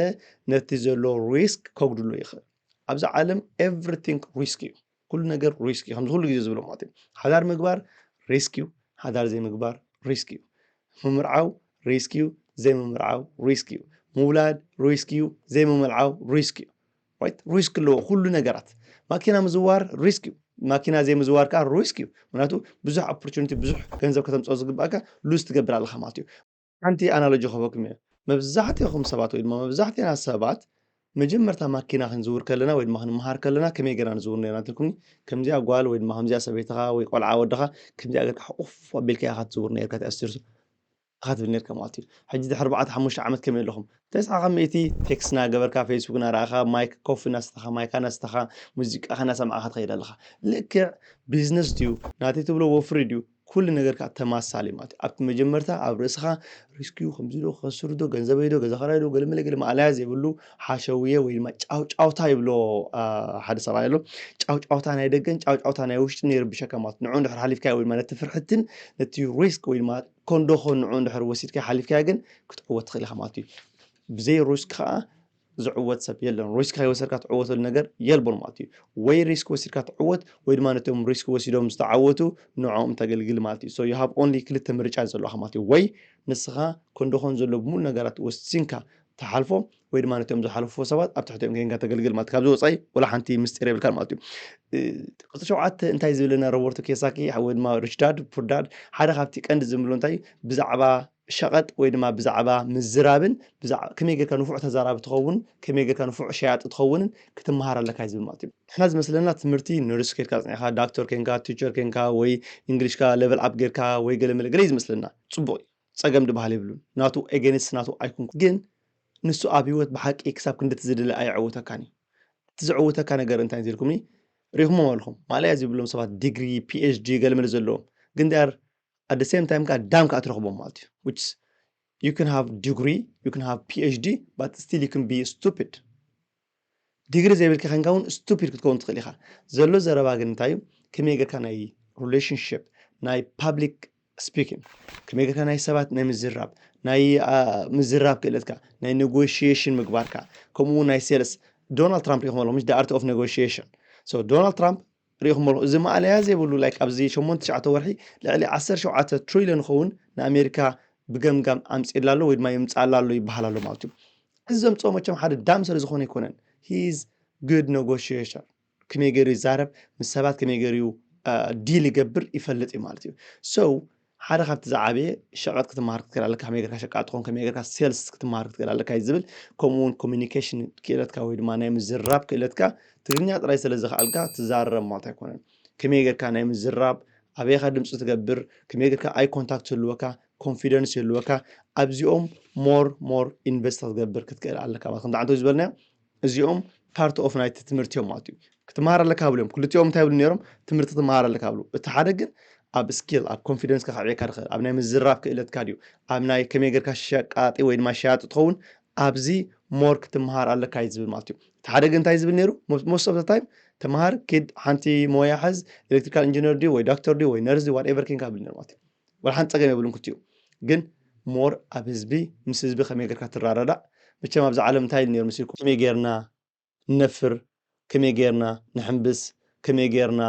ነቲ ዘሎ ሪስክ ከጉድሎ ይኽእል ኣብዛ ዓለም ኤቭሪቲንግ ሪስክ እዩ ኩሉ ነገር ሪስክ እዩ ከምዚ ኩሉ ግዜ ዝብሎ ማለት እዩ ሓዳር ምግባር ሪስክ እዩ ሓዳር ዘይምግባር ሪስክ እዩ ምምርዓው ሪስክ እዩ ዘይምምርዓው ሪስክ እዩ ምውላድ ሪስክ እዩ ዘይምምልዓው ሪስክ እዩ ሪስክ ኣለዎ ኩሉ ነገራት ማኪና ምዝዋር ሪስክ እዩ ማኪና ዘይምዝዋር ከዓ ሪስክ እዩ ምክንያቱ ብዙሕ ኦፖርቹኒቲ ብዙሕ ገንዘብ ከተምፅኦ ዝግባእካ ሉዝ ትገብር ኣለካ ማለት እዩ ሓንቲ ኣናሎጂ ክህበኩም እየ መብዛሕትኹም ሰባት ወይ ድማ መብዛሕትና ሰባት መጀመርታ ማኪና ክንዝውር ከለና ወይ ድማ ክንመሃር ከለና ከመይ ገና ንዝውር ነና ትልኩኒ ከምዚኣ ጓል ወይ ድማ ከምዚኣ ሰበይትኻ ወይ ቆልዓ ወድኻ ከምዚኣ ገርካ ሕቑፍ ኣቢልካ ኢኻ ትዝውር ነርካ ተኣስርሱ እኻ ትብል ነርካ ማልት እዩ ሕጂ ድሕሪ ኣርባዕተ ሓሙሽተ ዓመት ከመይ ኣለኹም ተስዓ ካብ ሚእቲ ቴክስ እና ገበርካ ፌስቡክ እና ረኣኻ ማይክ ኮፊ እና ሰተኻ ማይካ እና ሰተኻ ሙዚቃኻ እና ሰማዕካ ትኸይድ ኣለኻ ልክዕ ቢዝነስ ድዩ ናተይ ትብሎ ወፍሪ ድዩ ኩሉ ነገር ከኣ ተማሳሊ ማለት እዩ ኣብቲ መጀመርታ ኣብ ርእስኻ ሪስክዩ ከምዚ ዶ ክኸስር ዶ ገንዘበይ ዶ ገዛ ክራይ ዶ ገለመለ ገለ ማእለያ ዘይብሉ ሓሸውየ ወይ ድማ ጫውጫውታ ይብሎ ሓደ ሰብኣይ ኣሎ ጫውጫውታ ናይ ደገን ጫውጫውታ ናይ ውሽጢ ነይርብሸካ ማለት ንዑ ድሕር ሓሊፍካዮ ወይ ድማ ነቲ ፍርሕትን ነቲ ሪስክ ወይ ድማ ኮንዶኾ ንዑ እንድሕር ወሲድካዮ ሓሊፍካዮ ግን ክትዕወት ትኽእል ኢኻ ማለት እዩ ብዘይ ሪስክ ከዓ ዝዕወት ሰብ የለን ሪስክ ከይወሰድካ ትዕወተሉ ነገር የልቦን ማለት እዩ ወይ ሪስክ ወሲድካ ትዕወት ወይ ድማ ነቶም ሪስክ ወሲዶም ዝተዓወቱ ንዕኦም ተገልግል ማለት እዩ ሶ ዩ ሃብ ኦንሊ ክልተ ምርጫ ዘለካ ማለት እዩ ወይ ንስኻ ኮንዶኾን ዘሎ ብምሉ ነገራት ወሲንካ ትሓልፎ ወይ ድማ ነቶም ዝሓለፉ ሰባት ኣብ ትሕቲኦም ጌንካ ተገልግል ማለት ካብዚ ወፃኢ ወላ ሓንቲ ምስጢር የብልካን ማለት እዩ ቅጽ ሸውዓተ እንታይ ዝብለና ሮበርቶ ኬሳኪ ወይ ድማ ሪችዳድ ፑርዳድ ሓደ ካብቲ ቀንዲ ዝምብሎ እንታይ ብዛዕባ ሸቐጥ ወይ ድማ ብዛዕባ ምዝራብን ከመይ ጌርካ ንፉዕ ተዛራቢ ትኸውን ከመይ ጌርካ ንፉዕ ሸያጢ ትኸውንን ክትመሃር ኣለካ ዝብል ማለት እዩ ንሕና ዝመስለና ትምህርቲ ነርስ ኬድካ ፅኒዕካ ዳክተር ኬንካ ቲቸር ኬንካ ወይ እንግሊሽካ ለቨል ኣፕ ጌርካ ወይ ገለ መለ ገለ እዩ ዝመስለና ፅቡቅ እዩ ጸገም ድባሃል የብሉን ናቱ ኤገንስት ናቱ ኣይኩንኩን ግን ንሱ ኣብ ሂወት ብሓቂ ክሳብ ክንዲ እቲ ዝድለ ኣየዕውተካን እዩ እቲ ዘዕውተካ ነገር እንታይ እንተልኩምኒ ሪኹሞም ኣለኹም ማእለያ ዝብሎም ሰባት ዲግሪ ፒኤችዲ ገለመለ ዘለዎም ግን they are at the same time ከዓ ዳም ከዓ ትረኽቦም ማለት እዩ which is you can have degree you can have PhD but still you can be stupid ዲግሪ ዘይብልካ ከንካ ውን ስቱፒድ ክትከውን ትክእል ኢካ ዘሎ ዘረባ ግን እንታይ እዩ ከመይ ገርካ ናይ ሩለሽንሽፕ ናይ ፓብሊክ ስፒኪን ከመይ ገርካ ናይ ሰባት ናይ ምዝራብ ናይ ምዝራብ ክእለትካ ናይ ነጎሽሽን ምግባርካ ከምኡ ናይ ሴልስ ዶናልድ ትራምፕ ሪኢኹም ኣለኹም ዳኣርቲ ኦፍ ነጎሽሽን ሶ ዶናልድ ትራምፕ ርኢኹሞ እዚ ማእለያ ዘይብሉ ላይክ ኣብዚ ሸሞንተ ትሽዓተ ወርሒ ልዕሊ ዓሰርተ ሸውዓተ ትሪልዮን ዝኸውን ንኣሜሪካ ብገምጋም ኣምፂኡላ ኣሎ ወይ ድማ የምፅኣላ ኣሎ ይበሃል ኣሎ ማለት እዩ እዚ ዘምፅኦ መቸም ሓደ ዳም ስለ ዝኾነ ኣይኮነን ሂዝ ግድ ነጎሽሽን ከመይ ገይሩ ይዛረብ ምስ ሰባት ከመይ ገይሩ ዲል ይገብር ይፈልጥ እዩ ማለት እዩ ሰው ሓደ ካብቲ ዝዓበየ ሸቐጥ ክትመሃር ክትክእል ኣለካ ከመይ ጌርካ ሸቃጥ ትኾን ከመይ ጌርካ ሴልስ ክትመሃር ክትክእል ኣለካ እዩ ዝብል ከምኡ እውን ኮሚኒኬሽን ክእለትካ ወይ ድማ ናይ ምዝራብ ክእለትካ ትግርኛ ጥራይ ስለ ዝኸኣልካ ትዛረብ ማለት ኣይኮነን ከመይ ጌርካ ናይ ምዝራብ ኣበይካ ድምፂ ትገብር ከመይ ጌርካ ኣይ ኮንታክት ይህልወካ ኮንፊደንስ ይህልወካ ኣብዚኦም ሞር ሞር ኢንቨስት ክትገብር ክትክእል ኣለካ ማለት ከምዚ ዓንተ ዝበልናዮ እዚኦም ፓርት ኦፍ ናይቲ ትምህርቲ እዮም ማለት እዩ ክትመሃር ኣለካ ብሉ እዮም ክልቲኦም እንታይ ይብሉ ነይሮም ትምህርቲ ትመሃር ኣለካ ብሉ እቲ ሓደ ግን ኣብ ስኪል ኣብ ኮንፊደንስካ ከዕብየካ ድኽእል ኣብ ናይ ምዝራብ ክእለትካ ድዩ ኣብ ናይ ከመይ ጌርካ ሸቃጢ ወይ ድማ ሸያጢ ትኸውን ኣብዚ ሞር ክትመሃር ኣለካ እዩ ዝብል ማለት እዩ እቲ ሓደ ግን እንታይ ዝብል ነይሩ ሞስት ኦፍ ታይም ተምሃር ኪድ ሓንቲ ሞያ ሕዝ ኤሌክትሪካል ኢንጂነር ድዩ ወይ ዶክተር ድዩ ወይ ነርስ ድዩ ዋትኤቨር ኬንካ ብል ነይሩ ማለት እዩ ዋላ ሓንቲ ፀገም የብሉን ክልቲኡ ግን ሞር ኣብ ህዝቢ ምስ ህዝቢ ከመይ ጌርካ ትራረዳእ መቸም ኣብዛ ዓለም እንታይ ኢሉ ነይሩ መሲልኩም ከመይ ጌርና ንነፍር ከመይ ጌርና ንሕንብስ ከመይ ጌርና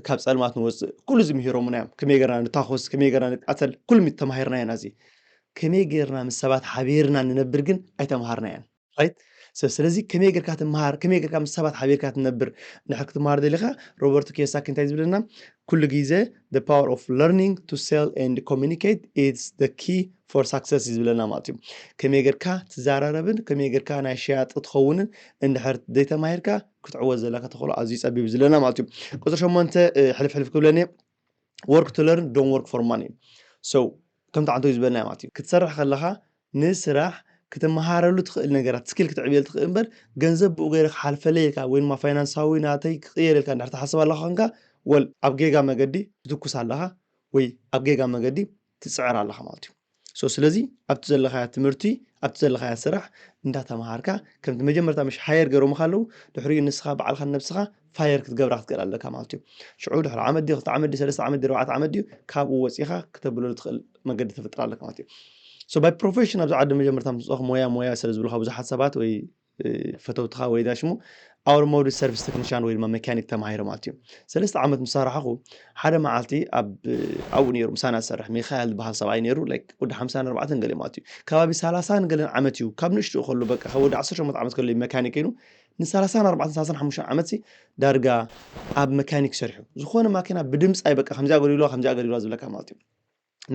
ካብ ፀልማት ንወፅእ ኩሉ እዚ ምሂሮሙና እዮም ከመይ ጌርና ንታኾስ ከመይ ጌርና ንቃተል ኩሉ ተማሂርናዮ ኢና እዚ ከመይ ጌርና ምስ ሰባት ሓቢርና ንነብር ግን ኣይተምሃርናዮን ራይት ስለዚ ከመይ ጌርካ ትምሃር ከመይ ጌርካ ምስ ሰባት ሓቢርካ ትነብር እንድሕር ክትምሃር ደሊኻ ሮበርቶ ኪዮሳኪ እንታይ ዝብለና ኩሉ ግዜ the power of learning to sell and communicate is the key for success እዩ ዝብለና ማለት እዩ ከመይ ጌርካ ትዘራረብን ከመይ ጌርካ ናይ ሸያጢ ትኸውንን እንድሕር ዘይተማሂርካ ክትዕወት ዘለካ ተኽእሎ ኣዝዩ ጸቢብ ዝለና ማለት እዩ ቁፅሪ ሸሞንተ ሕልፍ ሕልፍ ክብለኒ ወርክ ቱ ለርን ዶንት ወርክ ፎር ማኒ ሶ ከምቲ ዓንተቢት ዝበልናዮ ማለት እዩ ክትሰርሕ ከለኻ ንስራሕ ክትመሃረሉ ትኽእል ነገራት ስኪል ክትዕብየሉ ትኽእል እምበር ገንዘብ ብኡ ገይረ ክሓልፈለይ ኢልካ ወይ ድማ ፋይናንሳዊ ናተይ ክቕየር ኢልካ እንድሕር ትሓስብ ኣለኻ ኮንካ ወል ኣብ ጌጋ መገዲ ትትኩስ ኣለኻ ወይ ኣብ ጌጋ መገዲ ትፅዕር ኣለኻ ማለት እዩ ሶ ስለዚ ኣብቲ ዘለኻያ ትምህርቲ ኣብቲ ዘለኻያ ስራሕ እንዳተምሃርካ ከምቲ መጀመርታ ምሽ ሃየር ገይሮምኻ ኣለዉ ድሕሪኡ ንስኻ በዓልካ ነብስኻ ፋየር ክትገብራ ክትክእል ኣለካ ማለት እዩ ሽዑ ድሕሪ ዓመት ድዩ ክልተ ዓመት ድዩ ሰለስተ ዓመት ድዩ ኣርባዕተ ዓመት ድዩ ካብኡ ወፂኻ ክተብለሉ ትኽእል መገዲ ተፍጥር ኣለካ ማለት እዩ ሶ ባይ ፕሮፌሽን ኣብዚ ዓዲ መጀመርታ ምስ ሞያ ሞያ ስለ ዝብልካ ብዙሓት ሰባት ወይ ፈተውትኻ ወይ ዳሽ እሞ ኣውቶሞቲቭ ሰርቪስ ቴክኒሻን ወይ ድማ መካኒክ ተማሂረ ማለት እዩ ሰለስተ ዓመት ምስ ሰራሕኹ ሓደ መዓልቲ ኣብኡ ነይሩ ምሳና ዝሰርሕ ሚካኤል ዝበሃል ሰብኣይ ነይሩ ወዲ ሓምሳን ኣርባዕተን ገለ ማለት እዩ ከባቢ ሰላሳን ገለን ዓመት እዩ ካብ ንእሽትኡ ከሎ በቃ ካብ ወዲ ዓሰርተ ሸሞንተ ዓመት ከሎ መካኒክ ኮይኑ ንሰላሳን ኣርባዕተን ሰላሳን ሓሙሽተን ዓመት ዳርጋ ኣብ መካኒክ ሰርሑ ዝኾነ ማኪና ብድምፂ ኣይበቃ ከምዚ ኣገልግሎ ከምዚ ኣገልግሎ ዝብለካ ማለት እዩ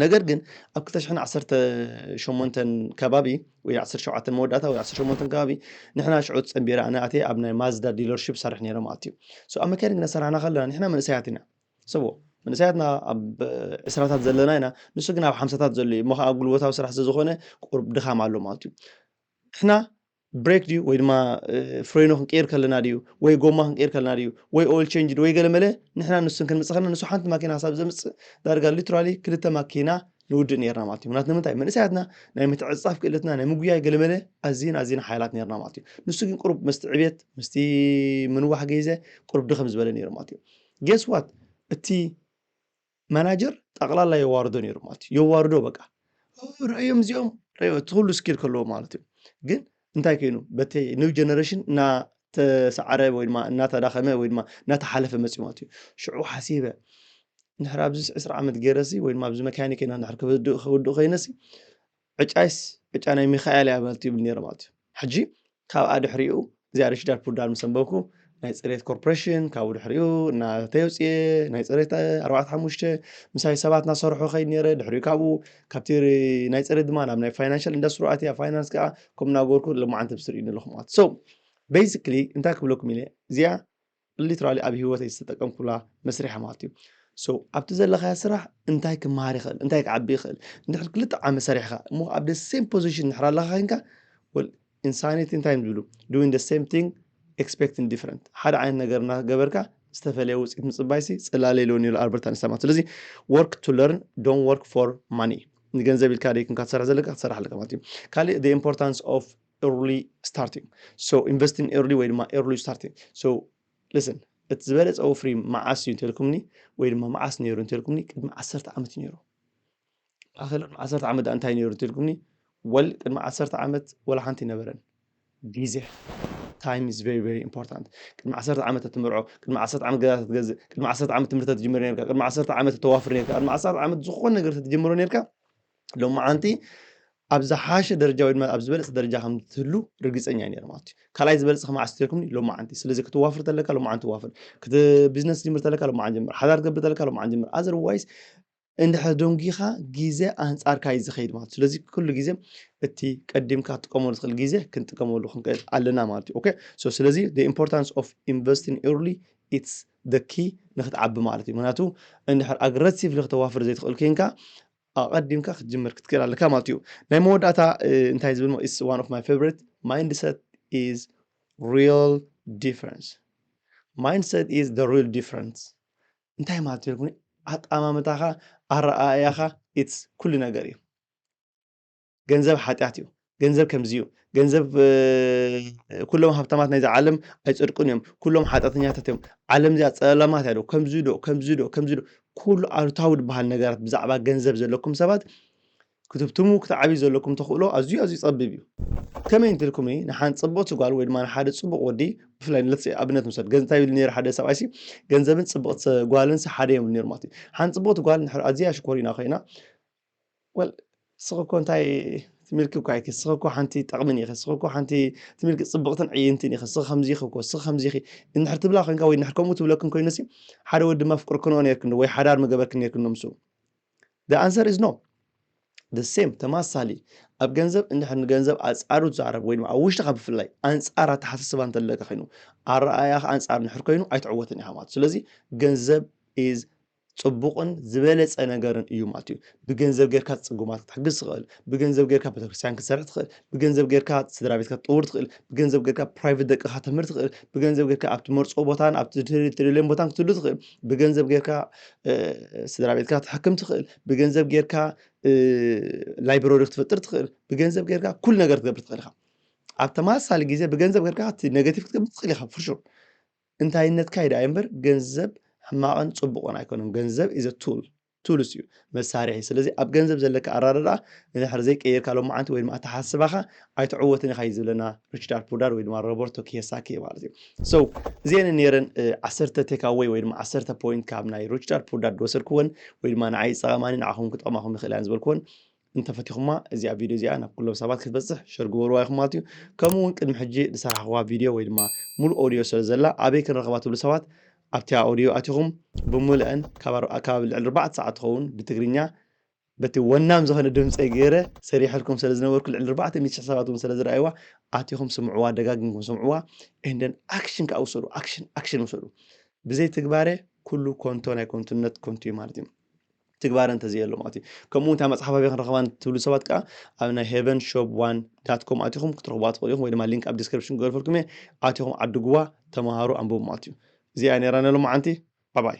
ነገር ግን ኣብ 218 ከባቢ ወይ 17 መወዳእታ ወይ 18 ከባቢ ንሕና ሽዑ ፀንቢረ ኣነ ኣትየ ኣብ ናይ ማዝዳ ዲለርሽፕ ሰርሕ ነይረ ማለት እዩ ሶ ኣብ መካይን ግና ሰራሕና ከለና ንሕና መንእሰያት ኢና ሰቦ መንእሰያትና ኣብ ዕስራታት ዘለና ኢና ንሱ ግን ኣብ ሓምሳታት ዘሎ እዩ እሞ ከዓ ጉልበታዊ ስራሕ ስለዝኾነ ቁርብ ድኻም ኣሎ ማለት እዩ ንሕና ብሬክ ድዩ ወይ ድማ ፍሬኖ ክንቅይር ከለና ድዩ ወይ ጎማ ክንቅይር ከለና ድዩ ወይ ኦይል ቼንጅ ድዩ ወይ ገለ መለ ንሕና ንሱን ክንምፅእ ከለና ንሱ ሓንቲ ማኪና ክሳብ ዘምፅእ ዳርጋ ሊትራሊ ክልተ ማኪና ንውድእ ነርና ማለት እዩ ምክንያቱ ንምንታይ መንእሰያትና ናይ ምትዕፅፃፍ ክእለትና ናይ ምጉያይ ገለ መለ ኣዝን ኣዝን ሓያላት ነርና ማለት እዩ ንሱ ግን ቁሩብ ምስቲ ዕብየት ምስቲ ምንዋሕ ገይዘ ቁሩብ ድኸም ዝበለ ነይሩ ማለት እዩ ጌስ ዋት እቲ ማናጀር ጠቅላላ የዋርዶ ነይሩ ማለት እዩ የዋርዶ በቃ ርእዮም እዚኦም ርእዮ እቲ ኩሉ ስኪል ከለዎ ማለት እዩ ግን እንታይ ኮይኑ በቲ ኒው ጀነሬሽን እናተሰዓረ ወይ ድማ እናተዳኸመ ወይ ድማ እናተሓለፈ መፅኡ ማለት እዩ ሽዑ ሓሲበ ንሕር ኣብዚ ዕስራ ዓመት ገይረሲ ወይ ድማ ኣብዚ መካኒክ ኢና ንሕር ክውድእ ኮይነሲ ዕጫይስ ዕጫ ናይ ሚካኤል እያ ማለት ይብል ነይረ ማለት እዩ። ሕጂ ካብኣ ድሕሪኡ እዚኣ ሪሽዳር ፑዳር ምስ ኣንበብኩ ናይ ፅሬት ኮርፖሬሽን ካብኡ ድሕሪኡ እናተይ ውፅኤ ናይ ፅሬት ኣርባዕተ ሓሙሽተ ምሳይ ሰባት እናሰርሑ ከይድ ነይረ ድሕሪኡ ካብኡ ካብቲ ናይ ፅሬት ድማ ናብ ናይ ፋይናንሻል ኢንዳስትሪ ኣትያ ፋይናንስ ከዓ ከምኡ እናገበርኩ ሎማዓንቲ ብስር እዩ ኣለኹ ማለት ሰው ቤዚክሊ እንታይ ክብለኩም ኢለ እዚኣ ሊትራሊ ኣብ ሂወተይ ዝተጠቀምኩላ መስርሒ ማለት እዩ ሶ ኣብቲ ዘለኻያ ስራሕ እንታይ ክመሃር ይኽእል እንታይ ክዓቢ ይኽእል እንድሕር ክልተ ዓመት ሰሪሕኻ እሞ ኣብ ደ ሴም ፖዚሽን እንድሕር ኣለኻ ኮንካ ወል ኢንሳኒቲ እንታይ እዮም ዝብሉ ዱዊን ደ ሴም ቲንግ ኤክስፔክቲን ዲፍረንት ሓደ ዓይነት ነገር እናገበርካ ዝተፈለየ ውፅኢት ምፅባይሲ ፅላለ ኢልዎ ነይሩ ኣልበርት ኣንስታይን ማለት ስለዚ ወርክ ቱ ለርን ዶን ወርክ ፎር ማኒ ንገንዘብ ኢልካ ደይኩንካ ትሰርሕ ዘለካ ክትሰርሕ ኣለካ ማለት እዩ ካልእ ኢምፖርታንስ ኦፍ ኤርሊ ስታርቲንግ ሶ ኢንቨስት ኢን ኤርሊ ወይ ድማ ኤርሊ ስታርቲንግ ሶ ልስን እቲ ዝበለፀ ወፍሪ መዓስ እዩ እንተልኩምኒ ወይ ድማ መዓስ ነይሩ እንተልኩምኒ ቅድሚ ዓሰርተ ዓመት ነይሩ ማእኸል ቅድሚ ዓሰርተ ዓመት ዳኣ እንታይ ነይሩ እንተልኩምኒ ወል ቅድሚ ዓሰርተ ዓመት ወላ ሓንቲ ይነበረን ግዜ ታይም ኢዝ ቨሪ ቨሪ ኢምፖርታንት ቅድሚ ዓሰርተ ዓመት እትምርዖ ቅድሚ ዓሰርተ ዓመት ገዛ ተትገዝእ ቅድሚ ዓሰርተ ዓመት ትምህርቲ ትጅምር ነርካ ቅድሚ ዓሰርተ ዓመት ተዋፍር ነርካ ቅድሚ ዓሰርተ ዓመት ዝኾነ ነገር ተትጀምሮ ነርካ ሎማዓንቲ ኣብ ዝሓሸ ደረጃ ወይ ድማ ኣብ ዝበለፀ ደረጃ ከም ትህሉ ርግፀኛ እዩ ነይሩ ማለት እዩ ካልኣይ ዝበለፀ ከመዓስ ትልኩምኒ ሎማዓንቲ ስለዚ ክትዋፍር ተለካ ሎማዓንቲ ዋፍር ክት ቢዝነስ ጅምር ተለካ ሎማዓን ጀምር ሓዳር ትገብር ተለካ ሎማዓን ጀምር ኣዘርዋይስ እንድሕር ደንጊኻ ግዜ ኣንፃርካ እዩ ዝኸይድ ማለት ስለዚ ኩሉ ግዜ እቲ ቀዲምካ ክትጥቀመሉ ትኽእል ግዜ ክንጥቀመሉ ክንክእል ኣለና ማለት እዩ ኦኬ ሶ ስለዚ the importance of investing early it's the key ንክትዓቢ ማለት እዩ ምክንያቱ እንድሕር ኣግረሲቭሊ ክተዋፍር ዘይትኽእል ኮንካ ኣቐዲምካ ክትጅምር ክትክእል ኣለካ ማለት እዩ ናይ መወዳእታ እንታይ ዝብል ኢስ ዋን ኦፍ ማይ ፌቨሪት ማይንድሰት ኢዝ ሪል ዲፈረንስ ማይንድሰት ኢዝ ደ ሪል ዲፈረንስ እንታይ ማለት እዩ ኣጠማምታኻ ኣረኣእያኻ ኢትስ ኩሉ ነገር እዩ ገንዘብ ሓጢኣት እዩ ገንዘብ ከምዚ እዩ ገንዘብ ኩሎም ሃብታማት ናይዚ ዓለም ኣይፅድቁን እዮም ኩሎም ሓጢኣተኛታት እዮም ዓለም እዚኣ ፀለማት እያ ዶ ከምዚ ዶ ከምዚ ዶ ከምዚ ዶ ኩሉ ኣሉታዊ ዝበሃል ነገራት ብዛዕባ ገንዘብ ዘለኩም ሰባት ክትብትሙ ክትዓብዩ ዘለኩም ተኽእሎ ኣዝዩ ኣዝዩ ፀቢብ እዩ ከመይ እንትልኩም ንሓን ፅቡቕቲ ጓል ወይ ድማ ንሓደ ፅቡቕ ወዲ ብፍላይ ንለት ኣብነት ምሰድ ገንታይ ብል ነሩ ሓደ ሰብኣይሲ ገንዘብን ፅቡቕቲ ጓልን ሓደ እዮም ነሩ ማለት እዩ ሓን ፅቡቕቲ ጓል ኣዝያ ሽኮሪና ኮይና Well ስኺ እኮ እንታይ ትምልኪ እኮ ኣይኪ ስኺ እኮ ሓንቲ ጠቕምን ኢኺ ስኺ እኮ ሓንቲ ትምልኪ ጽብቕትን ዕይንትን ኢኺ ስኺ ከምዚ ኢኺ እኮ ስኺ ከምዚ ኢኺ እንድሕር ትብላ ኮንካ ወይ እንድሕር ከምኡ ትብለክን ኮይኑ ሲ ሓደ ወዲ ድማ ፍቅርክንኦ ነርክን ወይ ሓዳር ምገበርክን ነርክን ዶ ምስኡ ደ ኣንሰር ኢዝ ኖ ደ ሴም ተማሳሊ ኣብ ገንዘብ እንድሕር ንገንዘብ ኣጻሩ ትዛረብ ወይ ድማ ኣብ ውሽጥኻ ብፍላይ ኣንጻር ኣተሓሳስባ እንተለካ ኮይኑ ኣረኣእያኻ ኣንጻር እንድሕር ኮይኑ ኣይትዕወትን ኢኻ ማለት ስለዚ ገንዘብ ኢዝ ጽቡቕን ዝበለጸ ነገርን እዩ ማለት እዩ ብገንዘብ ጌርካ ጽጉማት ክትሕግዝ ትኽእል ብገንዘብ ጌርካ ቤተክርስትያን ክትሰርሕ ትኽእል ብገንዘብ ጌርካ ስድራ ቤትካ ክትጥውር ትኽእል ብገንዘብ ጌርካ ፕራይቨት ደቅኻ ተምህር ትኽእል ብገንዘብ ጌርካ ኣብ ትመርፆ ቦታን ኣብ ትደልዮም ቦታን ክትህሉ ትኽእል ብገንዘብ ጌርካ ስድራ ቤትካ ትሕክም ትኽእል ብገንዘብ ጌርካ ላይብረሪ ክትፈጥር ትኽእል ብገንዘብ ጌርካ ኩሉ ነገር ትገብር ትኽእል ኢኻ ኣብ ተመሳሳሊ ግዜ ብገንዘብ ጌርካ እቲ ኔጋቲቭ ክትገብር ትኽእል ኢኻ ፍሹር እንታይነትካ ይድኣይ እምበር ገንዘብ ሕማቕን ጽቡቕን ኣይኮነን ገንዘብ is a tool ቱልስ እዩ መሳርሒ ስለዚ ኣብ ገንዘብ ዘለካ ኣራዳድኣ ንድሕሪ ዘይቀየርካ ሎማዓንቲ ወይ ድማ ኣተሓስባኻ ኣይትዕወትን ኢኻ እዩ ዝብለና ሪችዳር ፑዳር ወይ ድማ ሮበርቶ ኪዮሳኪ ማለት እዩ ሶ እዚአን ነረን ዓሰርተ ቴካወይ ወይ ድማ ዓሰርተ ፖይንት ካብ ናይ ሪችዳር ፑዳር ዝወሰድክወን ወይ ድማ ንዓይ ዝጠቐማኒ ንዓኹም ክጠቕማኹም ይኽእል እያን ዝበልክወን እንተፈቲኹማ እዚኣ ቪድዮ እዚኣ ናብ ኩሎም ሰባት ክትበፅሕ ሸር ግበርዋ ኢኹም ማለት እዩ ከምኡ እውን ቅድሚ ሕጂ ዝሰራሕኹዋ ቪድዮ ወይ ድማ ሙሉእ ኦድዮ ስለ ዘላ ኣበይ ክንረኽባ ትብሉ ሰባት ኣብቲያ ኦድዮ ኣቲኹም ብምልአን ካብ ልዕሊ ኣርባዕተ ሰዓት ትኸውን ብትግርኛ በቲ ወናም ዝኾነ ድምፀይ ገይረ ሰሪሐልኩም ስለ ዝነበርኩ ልዕሊ ኣርባዕተ ሚእቲ ሽሕ ሰባት እውን ስለ ዝረኣይዋ ኣቲኹም ስምዕዋ ደጋጊምኩም ስምዕዋ እንደን ኣክሽን ከዓ ውሰዱ ኣክሽን ኣክሽን ውሰዱ ብዘይ ትግባረ ኩሉ ኮንቶ ናይ ኮንቱነት ኮንቱ እዩ ማለት እዩ ትግባረ እንተዘየሎ ማለት እዩ ከምኡ እታ መፅሓፍ ኣበይ ክንረኽባ ትብሉ ሰባት ከዓ ኣብ ናይ ሄቨን ሾፕ ዋን ዳት ኮም ኣቲኹም ክትረኽቡዋ ትኽእሉ ኢኹም ወይ ድማ ሊንክ ኣብ ዲስክሪፕሽን ክገርፈልኩም እየ ኣቲኹም ዓድጉዋ ተምሃሩ ኣንብቡ ማለት እዩ እዚኣ ነይራ ነሎ መዓንቲ ባባይ